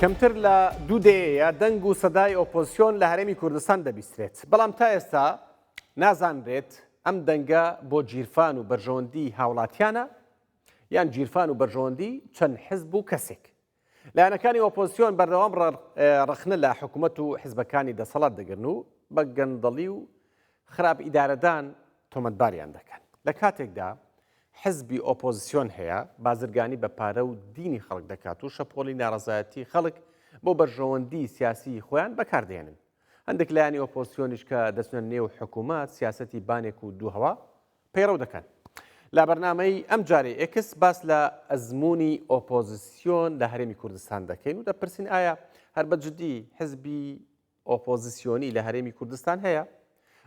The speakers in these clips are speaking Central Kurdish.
کەمتر لە دوو دەیەیە دەنگ و سەدای ئۆپۆزسیۆن لە هەرێمی کوردستان دەبیسترێت بەڵام تا ئێستا نازانرێت ئەم دەنگە بۆ جیرفان و بەرژەوەندی هاوڵاتیانە یان جیرفان و بەرژەوەندی چەند حزب و کەسێک لایەنەکانی ئۆپۆزسیۆن بەردەوام ڕەخنە لە حکوومەت و حزبەکانی دەسەڵات دەگرن و بە گەندەڵی و خراپ ئیدارەدان تۆمەتباریان دەکەن لە کاتێکدا حزبی ئۆپۆزیسیۆن هەیە بازرگانی بە پارە و دینی خەڵک دەکات و شەپۆلی ناڕزایەتی خەڵک بۆ بەرژەوەندی سیاسی خۆیان بەکاردێنن هەندێک لایانی ئۆپۆزیسیۆنیش کە دەچنە نێو حکوومەت سیاستی بانێک و دووهوا پەیڕەو دەکەن. لە بەرنامەی ئەم جارەی ئێکس باس لە ئەزموونی ئۆپۆزیسیۆن لە هەرێمی کوردستان دەکەین و دەپرسین ئایا هەر بە جدی حزبی ئۆپۆزیسیۆنی لە هەرێمی کوردستان هەیە؟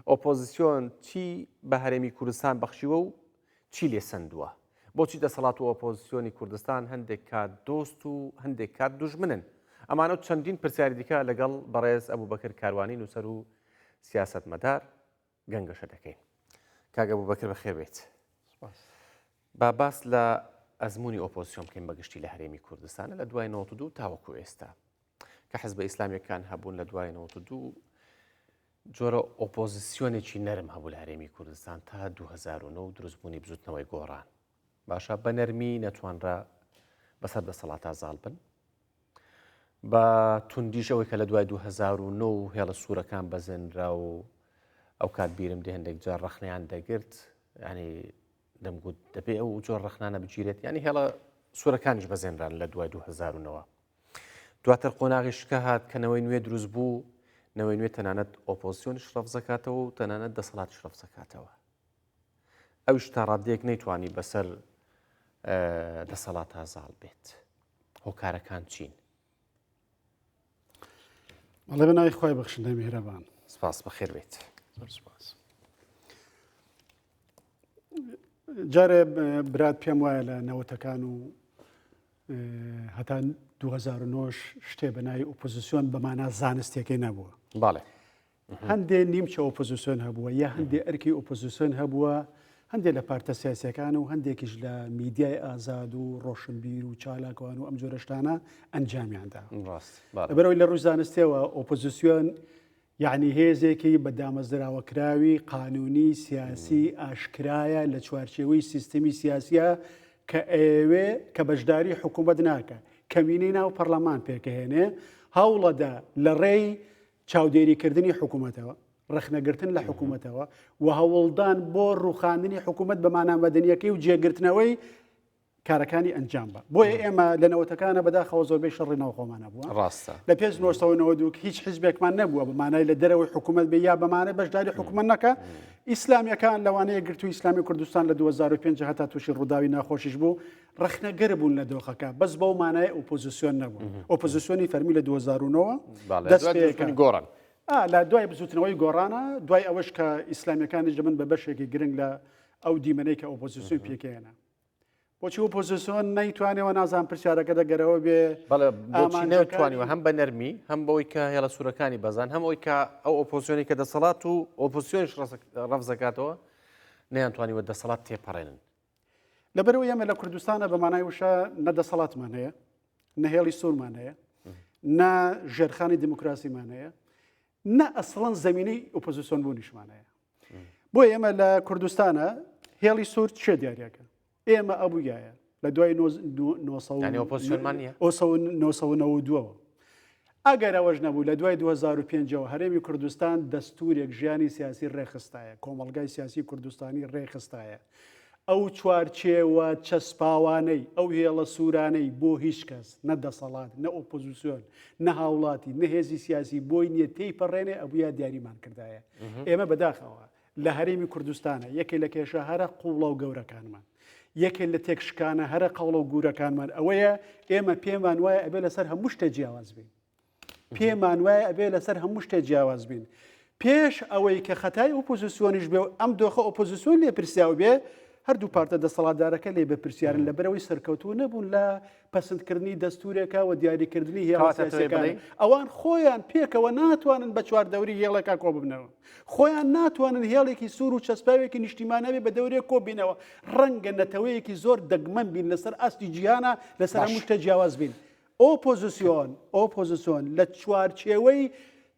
ئۆپۆزیسیۆن چی بە هەرێمی کوردستان بەخشیوە و چی لێ سندووە؟ بۆچی دەسەڵات و ئۆپۆزیسیۆنی کوردستان هەندێک کات دۆست و هەندێک کات دوژمنن؟ ئەمانە و چەندین پرسیاری دیکە لەگەڵ بەڕێز ئەبوو بەکر کاروانی نووسەر و سیاستمەدار گەنگەشە دەکەین کاک ئەبوبەکر بەخێر بێیت سپاس. با باس لە ئەزموونی ئۆپۆزسیۆن بکەین بە گشتی لە هەرێمی کوردستانە لە دوای 92 تاوەکو ئێستا کە حزبە ئیسلامیەکان هەبوون لە دوای 92 جۆرە ئۆپۆزیسیۆنێکی نەرم هەبوو لە هەرێمی کوردستان تا 2009 دروستبوونی بزوتنەوەی گۆڕان باشە بە نەرمی نەتوانرا بەسەر دەسەڵاتا زاڵ بن بە توندیش ئەوەی کە لە دوای 2009 و هێڵە سوورەکان بەزێنرا و ئەو کات بیرم دێ هەندێک جار ڕخنیان دەگرت ینی دەمگوت دەبێ ئەو جۆر ڕخنانە بگیرێت ینی هێڵە سوورەکانیش بەزێنران لە دوای 2009ەوە دواتر قۆناغی شکە هاات کەنەوەی نوێ دروست بوو نەوەی نوێ تەنانەت ئۆپۆزیۆنیش ڕەفزەکاتەوە و تەنانەت دەسەڵات شرەفزەکاتەوە ئەوش تاڕادەیەک نەیتوانی بەسەر دەسەڵاتا زاڵ بێت هۆکارەکان چین مەڵێ بە ناوی خخوای بەخشندە میهرەبان سپاس بەخێر بێت سپاس جارێ برات پێم وایە لە نەوەتەکان و هەتا 2009 شتێ بە ناوی ئۆپۆزیسیۆن بەمانە زانستێکی نەبووە باڵێ هەندێ نیمچە ئۆپۆزیسۆن هەبووە یا هەندێ ئەرکی ئۆپۆزیسۆن هەبووە هەندێک لە پارتە سیاسەکان و هەندێکیش لە میدیای ئازاد و ڕۆشنبیر و چالاکوان و ئەم جۆرەشتانە ئەنجامیاندا ڕاست بەرەوەی لە ڕووی زانستەوە ئۆپۆزیسیۆن یعنی هێزێکی بە دامەزراوە کراوی قانونی سیاسی ئاشکرایە لە چوارچێوەی سیستمی سیاسە کە ئەوێ کە بەشداری حکوومەت ناکە کەمینەی ناو پەرلەمان پێکەهێنێ هەوڵەدا لە ڕێی چاودێریکردنی حکوومەتەوە، ڕەخنەگرتن لە حکوومەتەوە و هەوڵدان بۆ ڕوخاندنی حکوومەت بە مانامەدەنیەکەی و جێگرتنەوەی کارەکانی ئەنجام بە بۆیە ئێمە لە نەوەتەکانە بەداخەوە زۆربەی شەڕی ناوخۆمانە بووە ڕاستە لە پێش نۆستەوەەوە دووک هیچ حزبێکمان نەبووە بەمانای لە دەرەوەی حکوومەت بێ یا بەمانە بەشداری حکوومەت نەکە ئیسلامیەکان لەوانەیە گرتو ئیسلامی کوردستان لە 2005 هەتا تووشی ڕووداوی ناخۆشیش بوو ڕەخنەگر بوون لە دۆخەکە بەس بەو مانای ئۆپۆزیسیۆن نەبوون ئۆپۆزیسیۆنی فەرمی لە 2009 دەست پێەکەن گۆڕن لە دوای بزوتنەوەی گۆڕانە دوای ئەوەش کە ئیسلامیەکانیش دەبن بە بەشێکی گرنگ لە ئەو دیمەنەی کە ئۆپۆزیسیۆن پێکێنە بۆچی و پۆزیسۆن نەیتوانەوە نازان پرسیارەکە دەگەرەوە بێ بەڵێتوانیوە هەم بە نەرمی هەم بەوەی کە هێڵە سوورەکانی بەزان هەم ئەوی کە ئەو ئۆپۆزیۆنی کە دەسەڵات و ئۆپۆسیۆنش ڕفزەکاتەوە نەیانتوانیوە دەسەڵات تێپەڕێنن لەبەرەوەی ئێمە لە کوردستانە بە مانای وشە نە دەسەڵاتمان هەیە نە هێڵی سوورمان هەیە نە ژێرخانی دیموکراسیمان هەیە نە ئەسڵەن زمینەی ئۆپۆزیسۆن بوونیشمان هەیە بۆ ئێمە لە کوردستانە هێڵی سوور چێ دیارەکە ئێمە ئەبووگایە لە دوای ئۆسەوە ئەگەر ئەوەش نەبوو لە دوای دوو هەزار و پێنج ەوە هەرێمی کوردستان دەستورێک ژیانی سیاسی ڕێکخستایە، کۆمەڵگای سیاسی کوردستانی ڕێکخستایە. ئەو چوارچێوە چەسپاوانەی، ئەو هێڵە سورانەی بۆ هیچ کەس، نە دەسەڵات، نە ئۆپۆزیسیۆن، نە هاوڵاتی، نە هێزی سیاسی بۆی نیە تێیپەڕێنێ ئەبویا دیاریمان کردایە. ئێمە بەداخەوە لە هەرێمی کوردستانە، یەکێ لە کێشە هەرە قووڵە و گەورەکانمان، یەکێ لە تێکشکانە هەرە قەوڵە و گوورەکانمان ئەوەیە، ئێمە پێمان وایە ئەبێ لەسەر هەموو شتێ جیاواز بین. پێمان وایە ئەبێ لەسەر هەموو شتێ جیاواز بین. پێش ئەوەی کە خەتای ئۆپۆزیسیۆنیش بێ و ئەم دۆخە ئۆپۆزیسیۆن لێ پرسیاو بێ، هەردوو پارتە دەسەڵاتدارەکە لێ بەپرسیارن لەبەرئەوەی سەرکەوتوو نەبوون لە پەسندکردنی دەستورێکە و دیاریکردنی هێڵە سیاسەکان ئەوان خۆیان پێکەوە ناتوانن بە چواردەوری هێڵەکە کۆببنەوە خۆیان ناتوانن هێڵێکی سوور و چەسپاوێکی نیشتیمانەوی بە دەورێک کۆبینەوە ڕەنگە نەتەوەیەکی زۆر دەگمەن بین لەسەر ئاستی جیهانە لەسەر مشتە جیاواز بین ئۆپۆزیسیۆن ئۆپۆزیسۆن لە چوارچێوەی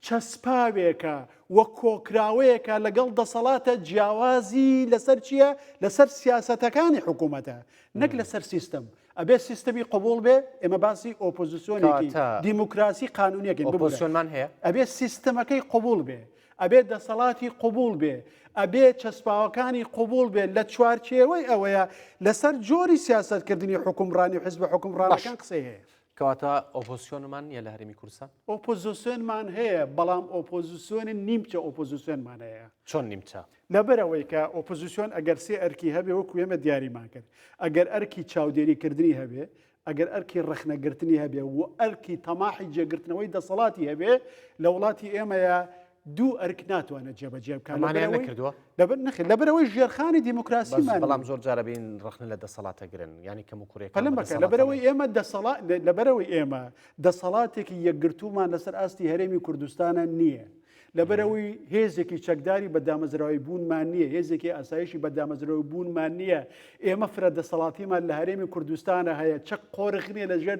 چەسپاوێکە و کۆکراوەیەکە لەگەڵ دەسەڵاتە جیاوازی لەسەر چیە لەسەر سیاسەتەکانی حکوومەتە نەک لەسەر سیستم ئەبێ سیستمی قوبول بێ ئێمە باسی ئۆپۆزیسیۆنێکی دیموکراسی قانونیەکەی بۆسیۆنمان هەیە ئەبێ سیستمەکەی قوبول بێ ئەبێ دەسەڵاتی قوبول بێ ئەبێ چەسپاوەکانی قوبول بێت لە چوارچێوەی ئەوەیە لەسەر جۆری سیاستکردنی حکومڕانی حزب حکومڕانەکان قسەیە کەواتە ئۆپۆزسیۆنمان نییە لە هەرێمی کوردستان؟ ئۆپۆزسیۆنمان هەیە، بەڵام ئۆپۆزسیۆنی نیمچە ئۆپۆزسیۆنمان هەیە. چۆن نیمچە؟ لەبەرئەوەی کە ئۆپۆزسیۆن ئەگەر سێ ئەرکی هەبێ وەکو ئێمە دیاریمان کرد، ئەگەر ئەرکی چاودێریکردنی هەبێ، ئەگەر ئەرکی ڕەخنەگرتنی هەبێ و ئەرکی تەماحی جێگرتنەوەی دەسەڵاتی هەبێ، لە وڵاتی ئێمەیە دوو ئەرک ناتوانێت جێبەجێ بکات ئەمانیان لەبەرەوەی نەکردووە لەبەر نەخێت لەبەرەوەی ژێرخانی بەس دیموکراسیمان بەڵام نییە. زۆر جارە بین ڕخنە لە دەسەڵاتە گرن یعنی کەم و کوڕێکان پەلەم بە بەکە دەسەڵاتە لەبەرەوەی نێن. ئێمە دەسەڵات لەبەرەوەی ئێمە دەسەڵاتێکی یەکگرتوومان لەسەر ئاستی هەرێمی کوردستانە نییە لەبەرەوەی هێزێکی چەکداری بە دامەزراوی بوونمان نییە هێزێکی ئاسایشی بە دامەزرەوەی بوونمان نییە ئێمە فرە دەسەڵاتیمان لە هەرێمی کوردستانە هەیە چەک قۆرخ نییە لەژێر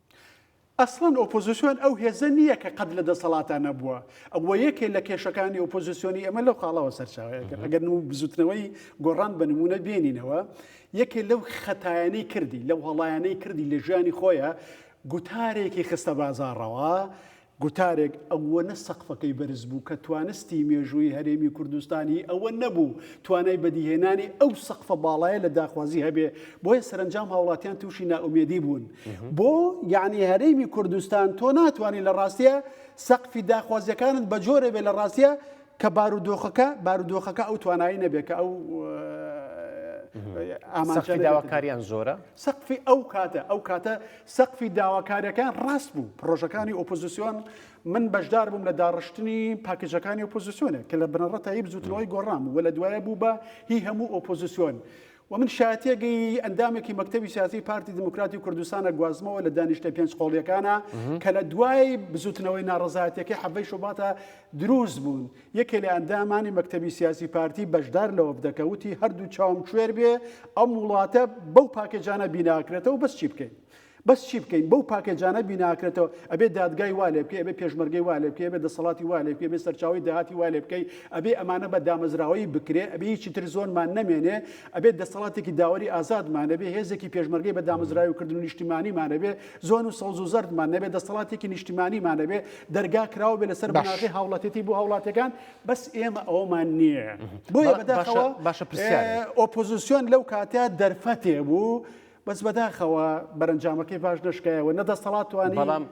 ئەسڵەن ئۆپۆزسیۆن ئەو هێزە نییە کە قەت لە دەسەڵاتا نەبووە ئەوە یەکێ لە کێشەکانی ئۆپۆزسیۆنی ئەمە لەو خاڵەوە سەرچاوەیەگەن ئەگەر و بزوتنەوەی گۆڕان بە نمونە بێنینەوە یەکێ لەو خەتایانی کردی لەو هەڵایانەی کردی لە ژیانی خۆیە گوتارێکی خستە بازاڕەوە گوتارێک ئەوەنە سەقفەکەی بەرز بوو کە توانستی مێژوویی هەرێمی کوردستان هی ئەوە نەبوو توانای بەدیهێنانی ئەو سەقفە باڵایە لە داخوازی هەبێ، بۆیە سەرەنجام هاوڵاتیان تووشی نائومێدی بوون بۆ یەعنی هەرێمی کوردستان، تۆ ناتوانی لە ڕاستیا سەقفی داخوازیەکانت بە جۆرێ بێ لە ڕاستیا کە بارودۆخەکە بارودۆخەکە ئەو توانایی نەبێ کە ئەو ئامانجەکە سەقفی داواکاریان زۆرە؟ سەقفی ئەو کاتە ئەو کاتە سەقفی داواکاریەکان ڕاست بوو، پڕۆژەکانی ئۆپۆزسیۆن من بەشدار بووم لە داڕشتنی پاکێجەکانی ئۆپۆزسیۆنێک کە لە بنەڕەتایی بزوتنەوەی گۆڕان بوو و لە دوایە بوو بە هی هەموو ئۆپۆزسیۆن. و من شایەتێگەی ئەندامێکی مەکتەبی سیاسی پارتی دیموکراتی کوردستانە گوازمەوە لە دانیشتە پێنج قۆڵیەکانە کە لە دوای بزوتنەوەی ناڕەزایەتیەکەی حەڤەی شوباتە دروست بوون. یەکێ لە ئەندامانی مەکتەبی سیاسی پارتی بەشدار لە وەفدەکە وتی هەردوو چاوم کوێر بێ ئەم وڵاتە بەو پاکێجانە بیناکرێتەوە بەس چی بکەین؟ بەس چی بکەین بەو پاکێجانە بیناکرێتەوە ئەبێ دادگای وا لێبکەی ئەبێ پێشمەرگەی وا لێبکەی ئەبێ دەسەڵاتی وا لێبکەی ئەبێ سەرچاوەی داهاتی وا لێبکەی ئەبێ ئەمانە بە دامەزراوەیی بکرێ ئەبێ هیچی تر زۆنمان نەمێنێ ئەبێ دەسەڵاتێکی داوەری ئازادمان هەبێ هێزێکی پێشمەرگەی بە دامەزراوەییکردن و نیشتیمانیمان هەبێ زۆن و سەوز و زەردمان نەبێ دەستەڵاتێکی نیشتیمانیمان نەبێ دەرگا کراوە بێ لەسەر بناغی هاوڵاتێتی بۆ هاوڵاتەکان بەس ئێمە ئەومان نییە بۆیە بەداخەوە باشە پرسیار ئۆپۆزیسیۆن لەو کاتە دەرفەتێ بوو بەس بەداخەوە بەرەنجامەکەی باش نشکایەوە نە دەستەڵاتوانی بەڵام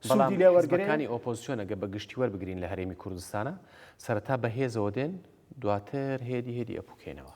سودی لێ وەرگەکانی ئۆپۆزیسیۆنەگە بە گشتی وەربگرین لە هەرێمی کوردستانە سەرەتا بەهێزەوە دێن دواتر هێدی هێدی ئەپوکێنەوە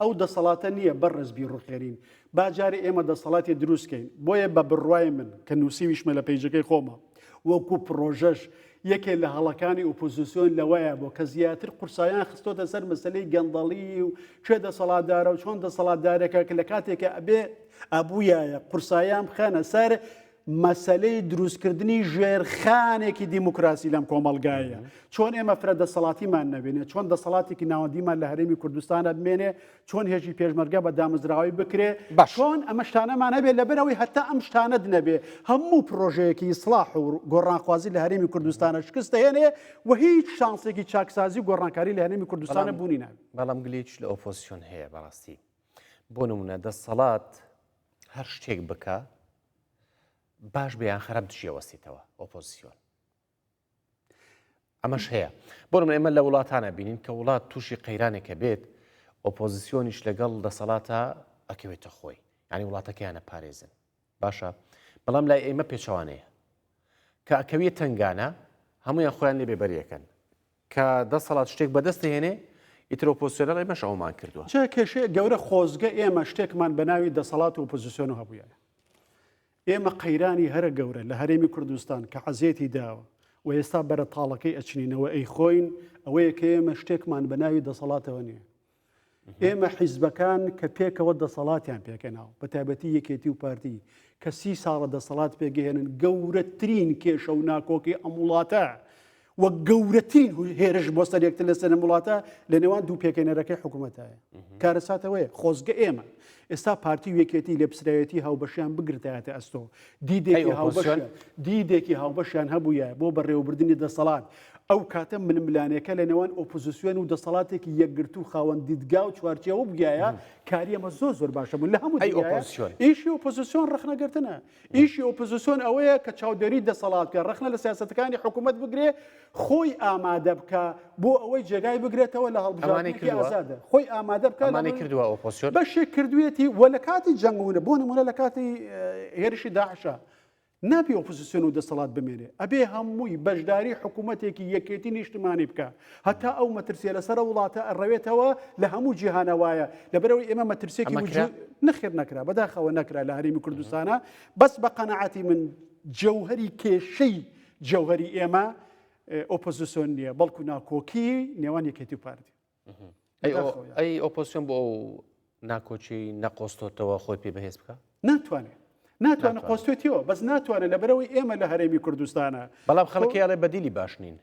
ئەو دەسەڵاتە نییە بەڕێز بیڕوخێنین، با جارێ ئێمە دەسەڵاتێ دروست کەین، بۆیە بە بڕوای من، کە نووسیویشمە لە پەیجەکەی خۆما، وەکوو پڕۆژەش، یەکێ لە هەڵەکانی ئۆپۆزیسیۆن لەوەیا بوو، کە زیاتر قورسایان خستۆتە سەر مەسەلەی گەندەڵیی و کێ دەسەڵاتدارە و چۆن دەسەڵاتدارێکە، کە لە کاتێکا ئەبێ، ئەبوویایە قورسایان بخەنە سەر مەسەلەی دروستکردنی ژێرخانێکی دیموکراسی لەم کۆمەلگایە چۆن ئێمە فرە دەسەڵاتیمان نەبێنێ چۆن دەسەڵاتێکی ناوەندیمان لە هەرێمی کوردستانە بمێنێ چۆن هێژی پێشمەرگە بە دامەزراوی بکرێ باشۆن ئەمە شتانەمان هەبێت لەبەرەوەی هەتا ئەم شتانت نەبێ هەموو پرۆژەیەکی سلاح و گۆڕانخوازی لە هەرێمی کوردستانە شکست هێنێ و هیچ شانسێکی چاکسازی گۆڕانکاری لە هەرێمی کوردستانە بوونی ناوی بەڵام گلیچ لە ئۆپۆسیۆن هەیە بەڕاستی بۆ نمونە دەسەڵات هەر شتێک بکا باش بە یان خراپ دژی ئەوەستێتەوە ئۆپۆزیسیۆن ئەمەش هەیە بۆم ئێمە لە وڵاتانە بینین کە وڵات تووشی قەیرانێکە بێت ئۆپۆزیسیۆنیش لەگەڵ دەسەڵاتە ئەکەوێتە خۆی ینی وڵاتەکەیانە پارێزن باشە بەڵام لای ئێمە پێچوانەیە کە ئەکەویە تنگانە هەمویان خۆیان لێ بێبەریەکەن کە دەسەڵات شتێک بەدەست دەهێنێ ئیتر ئۆپۆزسیۆنەڵ ئێمەش ئەوەمان کردووە. جا کێشەیە گەورە خۆزگە ئێمە شتێکمان بە ناوی دەسەڵات و ئۆپۆزسیۆن هەبوویایە. ئێمە قەیرانی هەرە گەورە لە هەرێمی کوردستان کە عەزێتی داوە و ئێستا بەرە تاڵەکەی ئەچنینەوە ئەیخۆین ئەوەیە کە ئێمە شتێکمان بە ناوی دەسەڵاتەوە نییە. ئێمە حیزبەکان کە پێکەوە دەسەڵاتیان پێکەناو بە تایبەتی یەکێتی و پارتی کە سی ساڵە دەسەڵات پێگەهێنن گەورەترین کێشە و ناکۆکی ئەم وڵاتە وە گەورەترین هێرش بۆ سەرێکتر لە سەرم وڵاتە لە نێوان دوو پێکەێنەرەکەی حکوومەتایە کارەساتەوەی خۆزگە ئێمە ئێستا پارتی وێکێتی لە پسراوێتی هاوبەشیان بگرتایەتە ئەستۆ دیدێکی هاوبەشیان دیدێکی هاوبەشیان هەبوویە بۆ بەڕێوەبردنی دەسەڵات، ئەو کاتە ململانێکە لە نێوان ئۆپۆزیسیۆن و دەسەڵاتێکی یەکگرتوو خاوەن دیدگا و چوارچێوە بوویایە کاری ئەمە زۆر زۆر باشە بوو لە هەموو ئەی ئۆپۆزیسیۆن ئیشی ئۆپۆزیسیۆن ڕخنەگرتنە ئیشی ئۆپۆزیسیۆن ئەوەیە کە چاودێری دەسەڵات کە ڕخنە لە سیاستەکانی حکوومەت بگرێ خۆی ئامادە بکا بۆ ئەوەی جێگای بگرێتەوە لە هەڵبژاردنێکی ئازادە خۆی ئامادە بکانانی کردووە ئۆپۆسیۆن بەشێک کردوێتی وە لە کاتی جەنگونە بۆ نمونە لە کاتی هێرشی داعشە نابی ئۆپۆزیسیۆن و دەسەڵات بمێنێ ئەبێ هەمووی بەشداری حکوومەتێکی یەکێتی نیشتمانی بکە هەتا ئەو مەترسیە لەسەر وڵاتە ئەڕەوێتەوە لە هەموو جیهانە وایە لەبەرەوەی ئێمە مەترسێکی نەخێر نەکرا بەداخەوە نەکرا لە هەرمی کوردستانە بەس بە قەنەعاتی من جەوهری کێشەی جەوهەری ئێمە ئۆپۆزیسۆن نییە بەڵکو ناکۆکی نێوان یەکێتی و پارتی ئەی ئۆپۆسیۆن بۆ ئەو ناکۆچی نەقۆستۆتەوە خۆی پێ بەهێز بکە ناتوانێت ناتوانە قۆستێتیەوە بەس ناتوانێت لە بەرەوەی ئێمە لە هەرێمی کوردستانە بەڵام خەڵکیڵێ بەدیلی باش نین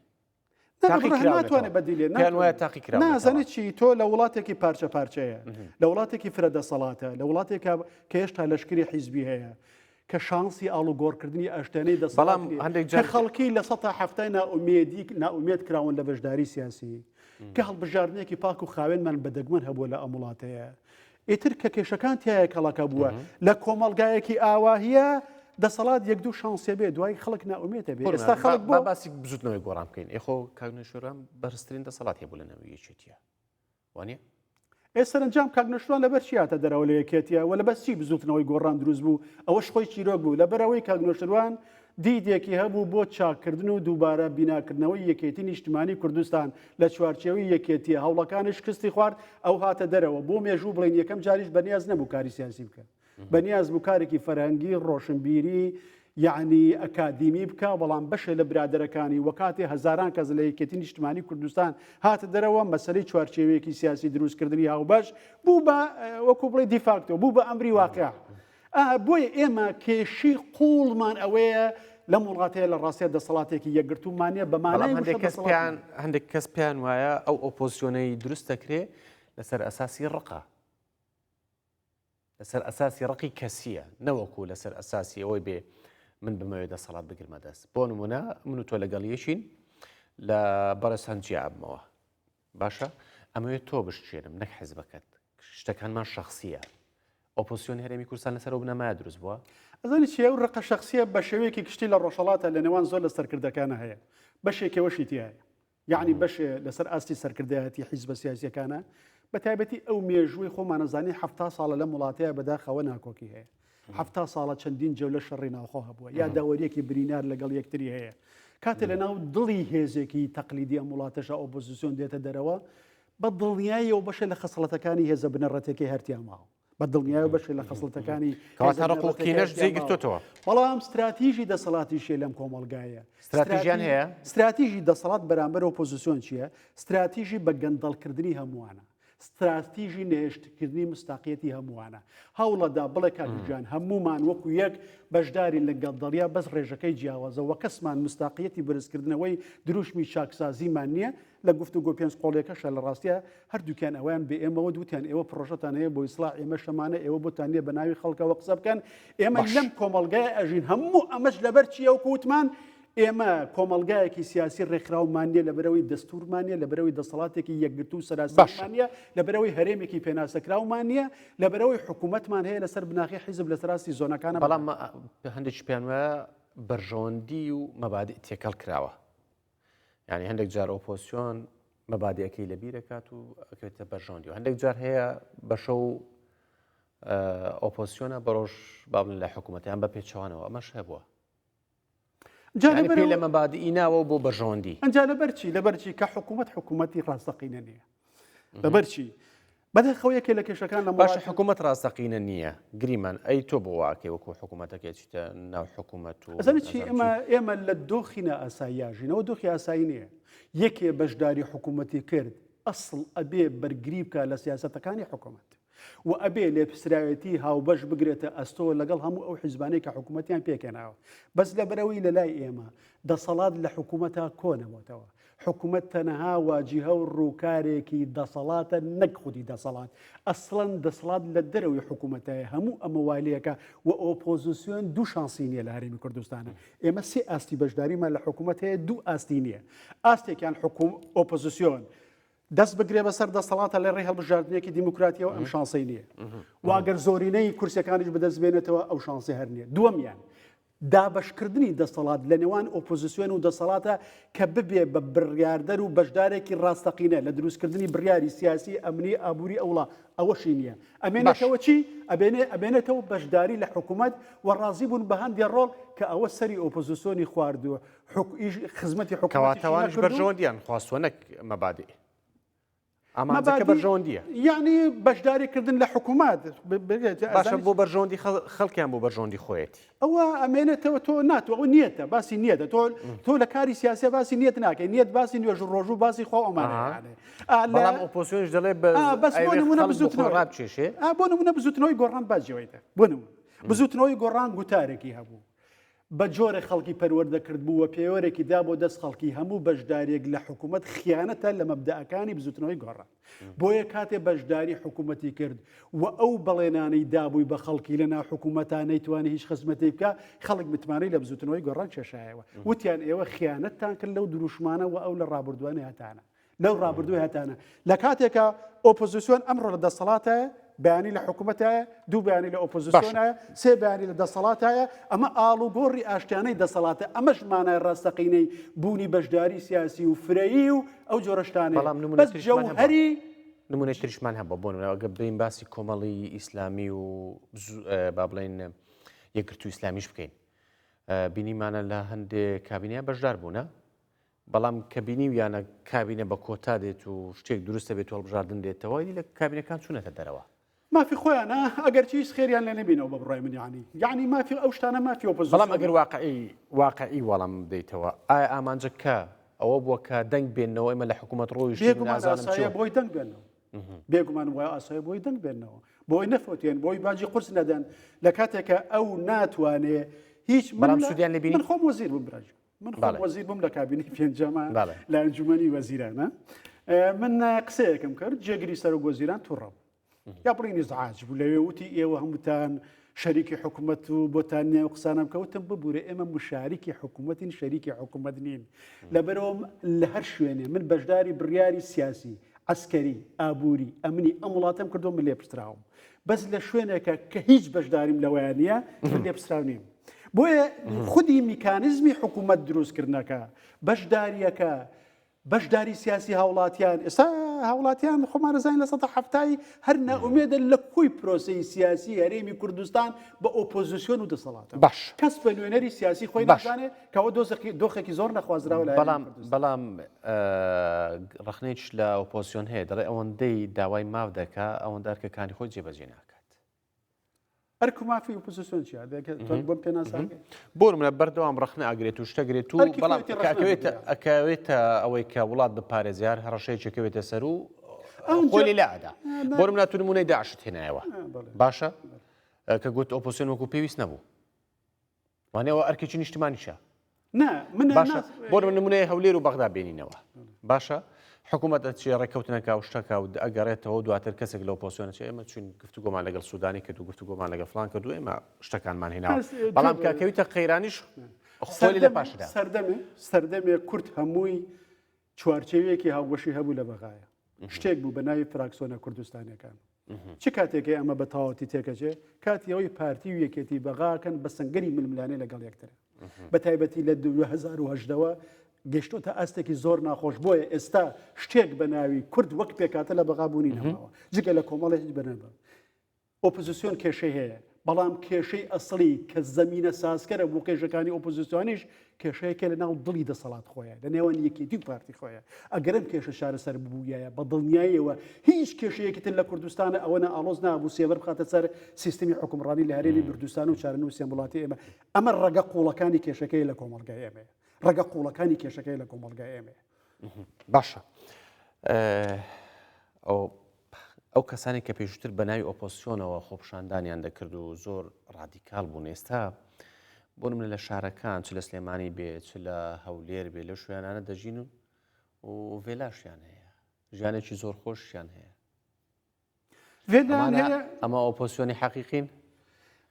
پێیان وایە تاقی کرا نازانێت چی تۆ لە وڵاتێکی پارچە پارچەیە لە وڵاتێکی فرە دەسەڵاتە لە وڵاتێکە کە هێشتا لەشکری حیزبی هەیە کە شانسی ئاڵوگۆڕکردنی ئەشتێنەی دەست بەڵام هەندێک جە خەڵکی لە سە هەفتای ناومێدی ناومێت کراون لە بەشداری سیاسی کە هەڵبژاردنێکی پاک و خاوێنمان بەدەگمەن هەبووە لە ئەم وڵاتەیە ئیتر کە کێشەکان تیایە کەڵەکە بووە لە کۆمەڵگایەکی ئاواهە دەسەڵات یەک دوو شانسێ بێ دوای خەڵک ناومێتە بێ ئێستا خەڵک بۆ باسی بزوتنەوەی گۆڕان بکەین ئێخۆ کاگنشوران بەرزترین دەسەڵات هەیە بوو لە نەویەکێتیە وانە ئێ سەرنجام کاگنشتوان لەبەر چیاتە دەرەوە لە یەکێتیە وە لە بەسی بزوتنەوەی گۆڕان دروست بوو ئەوەش خۆی چیرۆک بوو لە بەرەوەی کاگنۆشتروان دیدێکی هەبوو بۆ چاککردن و دووبارە بیناکردنەوەی یەکێتی نیشتمانی کوردستان، لە چوارچێوەی یەکێتیە هەوڵەکانە شکستی خوارد، ئەو هاتە دەرەوە، بۆ مێژوو بڵێین یەکەم جاریش بەنیاز نەبوو کاری سیاسی بکە، بەنیاز بوو کارێکی فەرهەنگی، ڕۆشنبیری، یەعنی ئەکادیمی بکا، بەڵام بەشێ لە برادەرەکانی و کاتێ هەزاران کەس لە یەکێتی نیشتمانی کوردستان هاتە دەرەوە، مەسەلەی چوارچێوەیەکی سیاسی دروستکردنی هاوبەش، بوو بە وەکو بڵێی دیفاکتۆ، بوو بە ئەمری واقیع. ئا بۆیە ئێمە کێشی قووڵمان ئەوەیە لەم وڵاتەیە لە ڕاستیا دەسەڵاتێکی یەکگرتوومانە بە بەڵام مانای هەندێک وشە کەس دەسەڵات پێیان نییە. هەندێک کەس پێیان وایە ئەو ئۆپۆزسیۆنەی دروست دەکرێ لەسەر ئەساسی ڕقە. لەسەر ئەساسی ڕقی کەسیە نەوەکو لەسەر ئەساسی ئەوەی بێ من بمەوێت دەسەڵات بگرمە دەست بۆ نمونە من و تۆ لەگەڵ یەکین لە بەڕێز هەنجیابمەوە باشە ئەمەوێت تۆ بشچێنم نەک حزبەکەت شتەکانمان شخصیە ئۆپۆسیۆن هەرێمی کوردستان لەسەر بنەمای دروست بووە ئەزانی چی ئەو ڕقە شخصیە بە شێوەیەکی کشتی لە ڕۆژهڵاتە لە نێوان زۆر لە سەرکردەکانە هەیە بەشێکەوەشی تایە یعنی بەش لەسەر ئاستی سەرکردایەتی حیزبە سیاسەکانە بە تایبەتی ئەو مێژووی خۆمانەزانی ه ساڵە لەم وڵاتەیە بەداخەوە ناکۆکی هەیە حەفتا ساڵە چەندین جەولە شەڕی ناوخۆ هەبووە یا داوەریەکی برینار لەگەڵ یەکتری هەیە کاتێ لە ناو دڵی هێزێکی تەقلیدی ئەم وڵاتەشە ئۆپۆزیسیۆن دێتە دەرەوە بە دڵنیاییەوە بەشێ لە خەسڵەتەکانی هێزە بنەڕەتەکەی هەرتیاماوە بە دڵنیایە بەشێ لە خەسڵەتەکانی کاتەڕقلقینەش جێگرتوتەوە بەڵام استراتیژی دەسەڵاتیشیە لەم کۆمەلگایە استراتیژیان هەیە استراتیژی دەسەڵات بەرامبەر ئۆپۆزیسیۆن چییە استراتیژی بە گەندەڵکردنی هەمووانە ستراتیژی نەهێشتکردنی مستاقیەتی هەمووانە هەوڵەدا بڵێ کاکگیان هەمومان وەکو یەک بەشدارین لە گەڵدەڵیا بەس ڕێژەکەی جیاوازە وە کەسمان مستاقیەتی بەرزکردنەوەی دروشمی چاکسازیمان نییە لە گفت و گۆ پێنج قۆڵیەکەشە لە ڕاستە هەردووکیان ئەویان بە ئێمەوە دوتیان ئێوە پرۆژەتان هەیە بۆ ئیسلا ئێمە شەمانە ئێوە بۆتان نیە بە ناوی خەڵکەوە قسە بکەن ئێمە لەم کۆمەلگای ئەژین هەموو ئەمەش لەبەر چیەوە کووتمان ئێمە کۆمەڵگایەکی سیاسی ڕێکخراومان نیە لەبەرەوەی دەستورمان نیە لەبەرەوەی دەسەڵاتێکی یەکگرتو و سەراسەرمان نیە لەبەرەوەی هەرێمێکی پێناسەکراومان نیە لەبەرەوەی حکوومەتمان هەیە لەسەر بناغی حیزب لە سەراستی زۆنەکانە بەڵام هەندێکی پێیان وایە بەرژەوەندی و مەبادی تێکەڵ کراوە ینی هەندێک جار ئۆپۆسیۆن مەبادەکەی لە بیرەکات و ئەکرێتە بەرژەوەندی و هەندێک جار هەیە بەشە و ئۆپۆسیۆنە بەڕۆژ بابن لە حکوومەتیان بە پێچوانەوە ئەمەش هەبووە جا لەبەر لە مەبادئی ناوە بۆ بەژۆندی ئەجا لەبەرچی لەبەرچی کە حکوومەت حکوومەتی ڕاستەقینە نییە لەبەرچی بەدەخەوە یەکێ لە کێشەکان لە باش حکوومەت ڕاستەقینە نییە گریمان ئەی تۆ بۆ واکێ وەکو حکوومەتەکە چیتە ناو حکوومەت و چی ئێمە ئێمە لە دۆخینە ئاساییاژینەوە دۆخی ئاسایی نییە یەکێ بەشداری حکوومەتی کرد ئەسڵ ئەبێ بەرگری بکە لە سیاستەکانی حکوومەت و ئەبێ لێپسراوێتی هاوبەش بگرێتە ئەستۆ لەگەڵ هەموو ئەو حیزبانەی کە حکوومەتیان پێکهێناوە بەس لەبەرەوەی لەلای ئێمە دەسەڵات لە حکوومەتا کۆنەبۆتەوە حکوومەت تەنەها واجیهە و ڕووکارێکی دەسەڵاتە نەک خودی دەسەڵات ئەسڵەن دەسڵات لە دەرەوەی حکوومەتایە هەموو ئەمە والیەکە و ئۆپۆزیسیۆن دوو شانسی نیە لە هەرێمی کوردستانە ئێمە سێ ئاستی بەشداریمان لە حکوومەت هەیە دوو ئاستی نییە ئاستێکیان حکووم ئۆپۆزیسیۆن دەست بگرێ بەسەر دەسەڵاتە لە ڕێ هەڵبژاردنێکی دیموکراتیەوە ئەم شانسی نییە واگەر زۆرینەی کورسەکانیش بەدەست بێنێتەوە ئەو شانسی هەر نیە دووەمیان دابشکردنی دەسەڵات لە نێوان ئۆپۆزیسیۆن و دەسەڵاتە کە ببێ بە بڕیاردەر و بەشدارێکی ڕاستەقینە لە دروستکردنی بڕیاری سیاسی ئەمنی ئابووری ئەوڵا ئەوەشی نییە ئەمێنەکەەوە چی ئەبێنێ ئەبێنێتەوە بەشداری لە حکوومەت و ڕازی بوون بە هەندێ ڕۆڵ کە ئەوە سەری ئۆپۆزیسیۆنی خواردووە کەواتە وانیش بەرژەوەندیان خواستوە نەک مەبادئ. ئامانجەکە بەرژەوەندیە یعنی بەشداریکردن لە حکوومات باشە بۆ بەرژەوەندی خەڵکیان بۆ بەرژەوەندی خۆیەتی ئەوە ئەمێنێتەوە تۆ ناتۆ ئەو نیەتە باسی نیەتە تۆ تۆ لە کاری سیاسە باسی نیەت ناکەی نیەت باسی نوێژ ڕۆژوو باسی خۆ ئەمانەڵام ئۆپۆسیۆنش دەڵێ بەس بۆ نمونە بزوتنەوەڕابچێشێ بۆ نمونە بزوتنەوەی گۆڕان باجەوەیتە بۆ نمونە بزوتنەوەی گۆڕان گوتارێکی هەبوو بە جۆرێک خەڵکی پەروەردە کردبوو و پێوەرێکی دا بۆ دەست خەڵکی هەموو بەشدارییەک لە حکوومەت خیانەتە لە مەبدەئەکانی بزووتنەوەی گۆڕان. بۆیە کاتێ بەشداری حکوومەتی کرد و ئەو بەڵێنانەی دابووی بە خەڵکی لە ناو حکوومەتا نەیتوانی هیچ خزمەتێی بکا، خەڵک متمانەی لە بزووتنەوەی گۆڕان کێشایەوە. وتیان ئێوە خیانەتتان کرد لەو درووشمانە و ئەو لە ڕابوردووە نەهەتانە. لەو ڕابردووی هەتانە لە کاتێکا ئۆپۆزیسیۆن ئەمڕۆ لە دەسەڵاتە بەیانی لە حکوومەتایە دوو بەیانی لە ئۆپۆزیسیۆنە سێ بەیانی لە دەسەڵاتایە ئەمە ئاڵ و گۆڕی ئاشتیانەی دەسەڵاتە ئەمەش مانای ڕاستەقینەی بوونی بەشداری سیاسی و فرەیی و ئەو جۆرەشتانە بەڵام نمونە هەری نمونە تریشمان هەبە بۆن ئەگە بین باسی کۆمەڵی ئیسلامی و با بڵێن یەکرتو ئیسلامیش بکەین بینیمانە لە هەندێک کابینە بەشدار بوونە بەڵام کە بینیویانە کابینە بە کۆتا دێت و شتێک دروست دەبێت و هەڵبژاردن دێتەوە، ئیدی لە کابینەکان چوونەتە دەرەوە. مافی خۆیانە، ئەگەرچی هیچ خێریان لێ نەبینەوە بە بڕوای من یەعنی. یەعنی مافی ئەو شتانە مافی بەڵام ئۆپۆزیسیۆنە. ئەگەر واقعی واقعی وەڵام بدەیتەوە، ئایا ئامانجە کە ئەوە بووە کە دەنگ بێننەوە، ئێمە لە حکوومەت ڕۆیشتین، بێگومان نازانم چی ئاساییە و. بۆی دەنگ بێننەوە. بێگومان وای ئاساییە بۆی دەنگ بێننەوە. بۆی نەفەوتێن، بۆی باجی قورس نەدەن، لە کاتێک کە ئەو ناتوانێ هیچ من بەڵام لە سوودیان لێ بینی؟ من خۆم وەزیر بووم برا گیان. من خۆم وەزیر بووم لە کابینی پێنجەمە لە ئەنجومەنی وەزیرانە من قسەیەکم کرد جێگری سەر و گۆزیران تووڕە بوو یا بڵی نیزعاج بوو لەوێ وتی ئێوە هەمووتان شەریکی حکوومەت و بۆتان نێو قسانم کەوتم ببوورە ئێمە مشاریکی حکوومەتین شەریکی حکوومەت نین لەبەرەوەم لە هەر شوێنێ من بەشداری بڕیاری سیاسی عسکەری ئابووری ئەمنی ئەم وڵاتم کردو من لێ پشتراوم بەس لە شوێنێکە کە هیچ بەشداریم لەوەیان نییە من لێپسراو نیم بۆیە خودی میکانزمی حکوومەت دروستکردنەکە بەشداریەکە بەشداری سیاسی هاوڵاتیان ئێستا هاوڵاتیان خۆمانەزانین لە سە هەفتایی هەر ناومێدە لە کوی پرۆسی سیاسی هەرێمی کوردستان بە ئۆپۆزیسیۆن و دەسەڵات باش کەس بە نوێنەری سیاسی خۆی باشانێت کەوە دۆزەکی دۆخێکی زۆر نەخوازراوە لە بەڵام بەڵام ڕخنێکش لە ئۆپۆسیۆن هەیە دەڵێ ئەوەندەی داوای ماف دەکا ئەوەندە ئەرکەکانی خۆی جێبەجێ ناکات ئەرک و مافی ئۆپۆزیسیۆن چیە بۆم پێ ناسان بۆ منە بەردەوام ڕخنە ئاگرێت و شتەگرێت و بەڵام ئەکەوێتە ئەوەی کە وڵات بپارێزیار هەڕەشەیەکەوێتە سەر و خۆی لەلادا بۆ منە تونمونەی داشت هێنایەوە باشە کە گوت ئۆپۆسیۆن وەکو پێویست نەبوو وانێ ئەوە ئەرکێکی نیشتمانیشە باشە بۆ نمونەیە هەولێر و بەغدا بێنینەوە باشە حکوومەت ئەچێ ڕێککەوتنەکە و شتەکە و ئەگەڕێتەوە دواتر کەسێک لەو پۆسیۆنە چ ئێمە چون گفتوگۆمان لەگەڵ سوودانی کرد و گفتوگۆمان لەگە فلان کرد و ئێمە شتەکانمان هێنا بەڵام کاکەویتە قەیرانیش خۆلی لە پاشدا سەردەمێ سەردەمێ کورت هەمووی چوارچێویەکی هاوبەشی هەبوو لە بەغایا شتێک بوو بە ناوی فراکسۆنە کوردستانەکان چ کاتێکی ئەمە بە تەواوەتی تێکەچێ کاتی ئەوەی پارتی و یەکێتی بەغاکەن بە سنگەری ململانێ لەگەڵ یەکتر بە تایبەتی لە 2010ەوە گەشتۆتە ئاستێکی زۆر ناخۆش بۆیە ئێستا شتێک بە ناوی کورد وەک پێکاتە لە بەغابوونی نەماوە جگە لە کۆمەڵێک بەنەبە ئۆپزسیۆن کێشەی هەیە، بەڵام کێشەی ئەسڵی کە زەمینە سازکەرە بۆ کێشەکانی ئۆپزسیۆنیش کێشەیەکە لە ناو دڵی دەسەڵات خۆیە لە نێوان یەکێتی و پارتی خۆیە ئەگەر ئەم کێشە چارەسەر ببوویایە بە دڵنیایەوە هیچ کێشەیەکی تر لە کوردستانە ئەوە نە ئاڵۆز نابوو سێبەر بخاتە سەر سیستمی حکومڕانی لە هەرێمی بردستان و چارن و سێمبڵاتی ئێمە ئەمە ڕەگە قوڵەکانی کێشەکەی لە کۆمەلگای ئێمەیە ڕەگە قوڵەکانی کێشەکەی لە کۆمەلگای ئێمەیە باشە ئەو ئەو کەسانێک کە پێشووتر بە ناوی ئۆپۆسیۆنەوە خۆپشاندانیان دەکرد و زۆر ڕادیکال بوون ئێستا بۆنم لە شارەکان چ لە سلێمانی بێ چ لە هەولێر بێ لە شوێنانە دەژین و و ڤێلاشیان هەیە ژیانێکی زۆر خۆشیان هەیە ئەمە ئۆپۆسیۆنی حەقیقین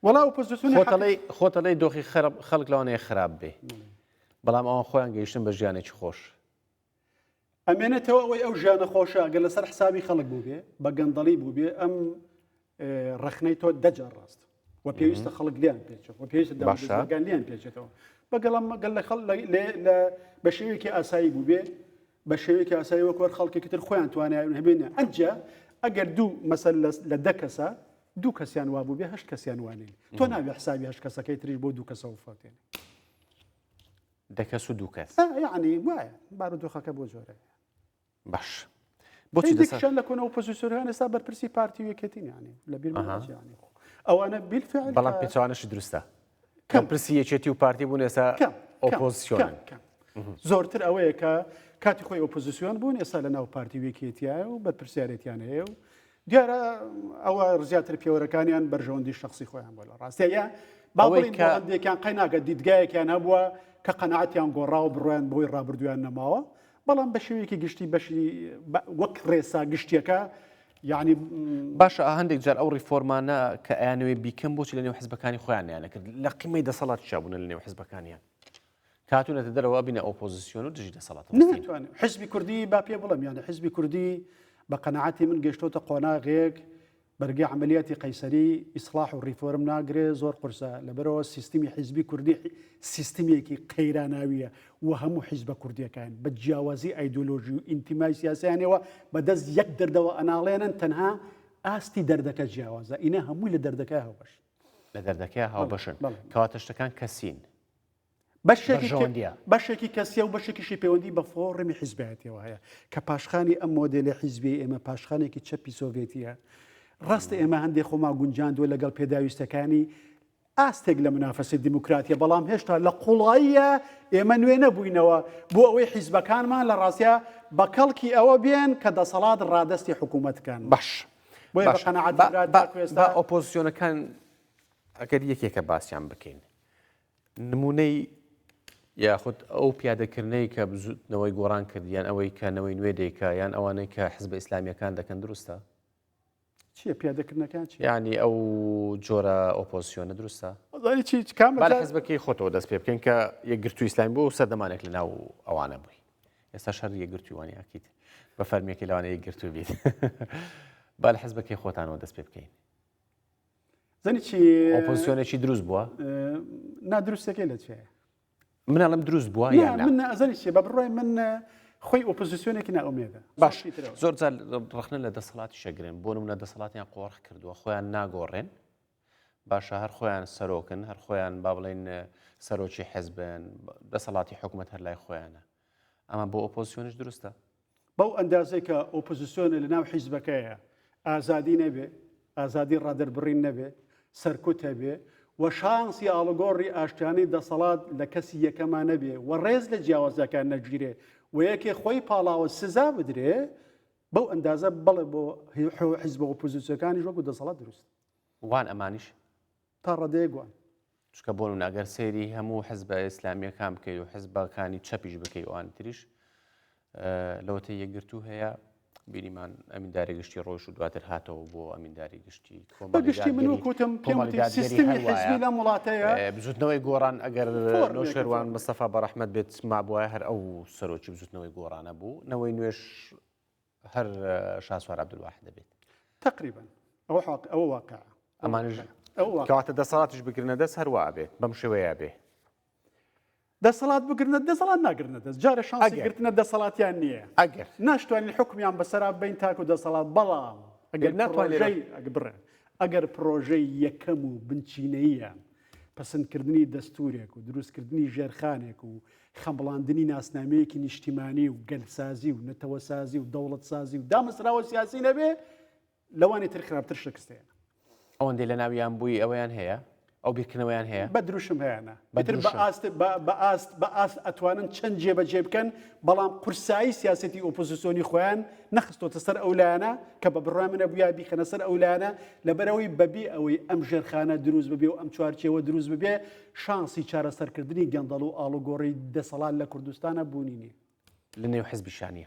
وڵا ئۆپۆزیۆنی خۆتەڵی دۆخی خەرب خەڵک لەوانەیە خراپ بێ بەڵام ئەوان خۆیان گەیشتن بە ژیانێکی خۆش ئەمێنێتەوە ئەوەی ئەو ژیانە خۆشە گەر لەسەر حسابی خەڵک بووبێ بە گەندەڵی بووبێ ئەم ڕخنەی تۆ دەجار ڕاست و پێویستە خەڵک لیان پێچێت و پێویستە داگان لیان پێچێتەوە بەگەڵم مەگەل لە خەڵ لە بە شێوێکی ئاسایی بووبێ بە شێوێکی ئاسایی وەکوەر خەڵکێکی تر خۆیان توانیان هەبێنە ئەجا ئەگەر دوو مەسەر لە دە کەسە دوو کەسیان وا بوو بێ هەشت کەسیان وانین تۆ ناوێ حسابی هەشت کەسەکەی تریش بۆ دوو کەسەوە فاتێن دە کەس و دوو کەس. نا یەعنی وایە بارودۆخەکە بۆ جۆرەیە. باش. بۆچی دەسە؟ هێندێکیشیان لە کۆنە ئۆپۆزیسیۆنەکان ئێستا بەرپرسی پارتی و یەکێتی یانێ لەبیرمان ئەها. نەچێ یانێ خۆ. ئەوانە بیلفعل بەڵام کە- پێچەوانەشی دروستە کەم. کەم پرسی یەکێتی و پارتی بوون ئێستا کەم کەم، ئۆپۆزیسیۆن کەم، کەم. زۆرتر ئەوەیە کە کاتی خۆی ئۆپۆزیسیۆن بوون ئێستا لە ناو پارتی وێکێتیایە و بەرپرسیارێتیان هەیە و دیارە ئەوە زیاتر پێوەرەکانیان بەرژەوەندی شخصی خۆیان بۆ لە ڕاستە یا باڵێکیان قەیناکە دیدگایەکیان هەبووە کە قەنەعاتیان گۆڕا و بڕۆیان بۆی ڕابردویان نەماوە بەڵام بە شێوەیەکی گشتی بەشی وەک ڕێسا گشتیەکە یعنی باشە هەندێک جار ئەو ڕیفۆرمانە کە ئەیانەوەی بیکەم بۆچی لە نێو حزبەکانی خۆیان نیانەکرد لە قیمەی دەسەڵات چابوون لە نێو حزبەکانیان کاتونەتە دەرەوە بینە ئۆپۆزیسیۆن و دژی دەسەڵات ناتوانێت حزبی کوردی با پێ بڵم یانە حزبی کوردی بە قەنەعاتی من گەشتۆتە قۆناغێک بەرگی عملیاتی قەیسەری ئیسلاح و ڕیفۆرم ناگرێ زۆر قرسە لەبەرەوە سیستمی حیزبی کوردی سیستمێکی قەیراناویە و هەموو حیزبە کوردیەکان بە جیاوازی ئایدۆلۆژی و ئینتیمای سیاسیانەوە بەدەست یەک دەردەوە ئەناڵێنن تەنها ئاستی دەردەکە جیاوازە ئینە هەمووی لە دەردەکە هەوبەش لە دەردەکە هاوبەشن کەواتە شتەکان کەسین بەرژەوەندیە. بەشێکی کەسیە و بەشێکیشی پەیوەندی بە فۆڕمی حیزبایەتیەوە هەیە کە پاشخانی ئەم مۆدێلی حیزبی ئێمە پاشخانێکی چەپی سۆڤێتیە ڕاست ئێمە هەندێک خۆما گونجاندوە لەگەڵ پێداویستەکانی ئاستێک لە منافەسی دیموکراتیە بەڵام هێشتا لە قوڵاییە ئێمە نوێ نەبووینەوە بۆ ئەوەی حیزبەکانمان لە ڕاستە بە کەڵکی ئەوە بێن کە دەسەڵات ڕادستی حکوومەتکەن باش بۆ ئۆپۆزیسیۆنەکان ئەگەر یەکێکە باسیان بکەین نموونەی یاخود ئەو پیادەکردنەی کە بزوتنەوەی گۆڕان کرد یان ئەوەی کە نەوەی نوێ دەیکا یان ئەوانەی کە حزب ئیسلامیەکان دەکەن دروستە چیە پیادەکردنەکان چی ینی ئەو جۆرە ئۆپۆسیۆنە دروستە حزبەکەی خۆتەوە دەست پێ بکەین کە یەکگرتو ئیسلامی بۆ سەردەمانێک لە ناو ئەوانە بووی ئێستا شەر یەکگرتووانی ئاکیت بە فەرمیەکە لەوانەیە گرتو بیت بال حزبەکەی خۆتانەوە دەست پێ بکەین زەنی چی ئۆپۆزیسیۆنێکی دروست بووە نادروستەکەی لە چێ منەڵم دروست بووە منەزەنی چێ بە بڕای من خۆی ئۆپۆزیسیۆنێکی ناومێدە باش زۆر جار ڕخنە لە دەسەڵاتی شەگرن بۆ منە دەسەڵاتیان قۆڕخ کردووە خۆیان ناگۆڕێن باشە هەر خۆیان سەرۆکن هەر خۆیان با بڵێن سەرۆکی حەزبن دەسەڵاتی حکوومەت هەر لای خۆیانە ئەمە بۆ ئۆپۆزسیۆنیش دروستە. بەو ئەندازەی کە ئۆپۆزسیۆنە لەناو حیزبەکەیە ئازادی نەبێ، ئازادی ڕادەربڕین نەبێ، سەرکوت هەبێ و شانسی ئاڵوگۆڕی ئاشتیانەی دەسەڵات لە کەسی یەکەما نەبێ و ڕێز لە جیاوازیەکان نەگیرێ و یەکێ خۆی پاڵاوە سزا بدرێ، بەو ئەندازە بەڵێ بۆ حیزبە ئۆپۆزسیۆنەکانیش وەکو دەسەڵات دروستە. وان ئەمانیش؟ تا ڕادەیەک وان. چونکە بۆ نمونە ئەگەر سەیری هەموو حزبە ئیسلامیەکان بکەی و حزبەکانی چەپیش بکەی ئەوانی تریش لەوەتە یەکگرتو هەیە بینیمان ئەمینداری گشتی ڕۆژ و دواتر هاتەوە بۆ ئەمینداری گشتی گشتی من وکوتم لەم وڵاتەیە بزوتنەوەی گۆڕان ئەگەر لۆ شێوان مستەفا بەڕحمەت بێت مابواە هەر ئەو سەرۆکی بزوتنەوەی گۆڕانە بوو نەوەی نوێش هەر شاسوار عبدالواحد دەبێت تقریبا ئەوە حق ئەوە واقع ئەمانژ کەواتە دەسەڵاتش بگرنە دەست هەروە بێت بەم شێوەیە بێ دەسەڵات بگرنە دەسەڵات ناگرنە دەست جارە شانگرتنە دەسەڵاتیان نییە ئەگەر ناشتوانین حکمیان بەسەرا بین تاکو دەسەڵات بەڵام ئەگەر ناتوانێت بڕێ ئەگەر پرۆژەی یەکەم و بنچینەیە پەسەندکردنی دەستوورێک و دروستکردنی ژێرخانێک و خەمڵاندنی ناسنامەیەکی نیشتیمانی و گەلسازی و نەتەوەسازی و دەوڵەتسازی و دامەزراوە سیاسی نەبێ لەوانی تر خراپتر شکستێنە ئەوەندەی لە ناویان بووی ئەویان هەیە ئەو بیرکردنەوەیان هەیە بە دروشم هەیەە بە ئاست بە ئاست بە ئاست ئەتوانن چەند جێبەجێ بکەن بەڵام قورسایی سیاسەتی ئۆپۆزیسۆنی خۆیان نەخستۆتە سەر ئەو لایەنە کە بە بڕای منە بویا بیخەنە سەر ئەو لایەنە لەبەرەوەی بەبی ئەوەی ئەم ژێرخانە دروست ببێ و ئەم چوارچێوە دروست ببێ شانسی چارەسەرکردنی گەندەڵ و ئاڵوگۆڕی دەسەڵات لە کوردستانە بوونی نیە لە نێو حزبی شانە.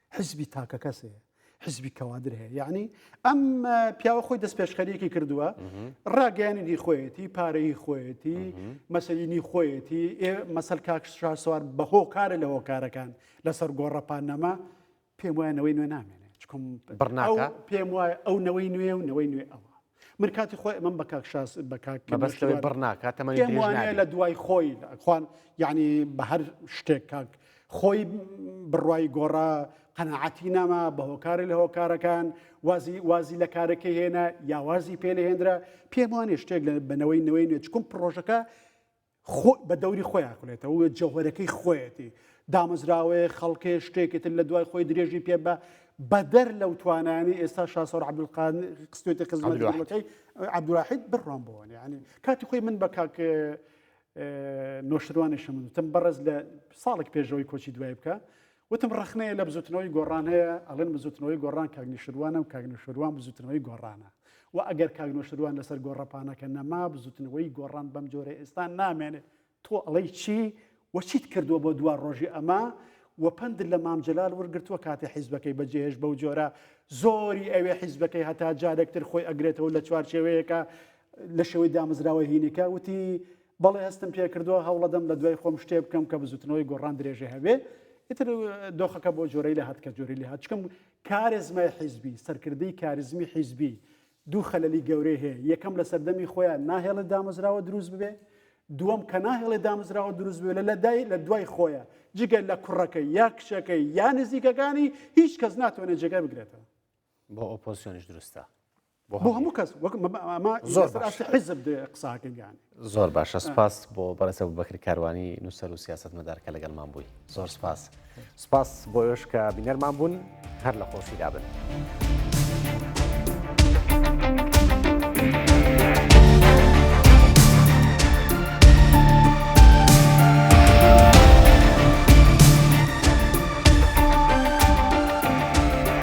حزبی تاکەکەس هەیە حزبی کەوادر هەیە یعنی ئەم پیاوە خۆی دەست پێشخەریەکی کردووە ڕاگەیاننی خۆیەتی پارەی خۆیەتی مەسەلینی خۆیەتی ئێ مەسەل کاکشار سوار بە هۆکارە لە هۆکارەکان لەسەر گۆڕەپان نەما پێم وایە نەوەی نوێ نامێنێت چکم بڕنا پێم وایە ئەو نەوەی نوێ و نەوەی نوێ ئەوە من کاتی خۆی ئەمەم بە کاک شاس بە کاک مەبەستەوەی بڕ ناکات تەمەنی پێم درێژ وانەیە نابێت لە دوای خۆی خوان یعنی بە هەر شتێک کاک خۆی بڕوای گۆڕا قەناعەتی ناما بە هۆکارە لە هۆکارەکان وازی وازی لە کارەکەی هێنا یا وازی پێ لە هێندرا پێم وانێ شتێک لە بنەوەی نوێی نوێ چکم پڕۆژەکە خۆ بە دەوری خۆی ئاکولێتەوە و جەوهەرەکەی خۆیەتی، دامەزراوەیە، خەڵکێ، شتێکی تر لە دوای خۆی درێژی پێ بە بەدەر لەو توانایانی ئێستا شاسۆر عەبدولقان خستێتی خزمەت دەوڵەکەی عەبدولواحید بڕوان بۆن یعنی کاتی خۆی من بە کاک نۆشتروانێشم وتم بەڕێز لە ساڵێک پێشەوەی کۆچی دوای بکە وتم ڕەخنەیە لە بزوتنەوەی گۆڕان هەیە، ئەڵێن بزوتنەوەی گۆڕان کاک نیشروانە و کاک نوشروان بزوتنەوەی گۆڕانە و ئەگەر کاک نوشروان لەسەر گۆڕەپانەکە نەما بزوتنەوەی گۆڕان بەم جۆرە ئێستا نامێنێت. تۆ ئەڵێی چی و چیت کردووە بۆ دوا ڕۆژی ئەمە و پەندت لە مام جەلال وەرگرتووە کاتی حیزبەکەی بەجێهێشت بەو جۆرە زۆری ئەوێ حیزبەکەی هەتا جارێکتر خۆی ئەگرێتەوە لە چوارچێوەیەکە لە شێوەی دامەزراوە هینەکە وتی بەڵێ هەستم پێکردوە هەوڵەدەم لە دوای خۆم شتێ بکەم کە بزوتنەوەی گۆڕان درێژە هەبێ ئیتر دۆخەکە بۆ جۆرەی لە هاتکە جۆری لە هاچکم کارێزمای حیزبی سەرکردی کاریزمی حیزبی دوو خەلەلی گەورەی هەیە یەکەم لە سەردەمی خۆیان ناهێڵێ دامەزراوە دروست ببێ دووەم کە ناهێڵێ دامەزراوە دروست بێ لە لەدای لە دوای خۆیە جگە لە کوڕەکەی یا کچەکەی یا نزیکەکانی هیچ کەس ناتوانێت جێگای بگرێتەوە بۆ ئۆپۆسیۆنیش دروستە بۆ هەموو کەس زۆر باشە سپاس بۆ بەڕێسە بەکر کاروانی نووسەر و سیاست مەدارکە لەگەڵمان بووی زۆر سپاس سپاس بۆ ێش کە بینەرمان بوون هەر لە خۆشی دابن.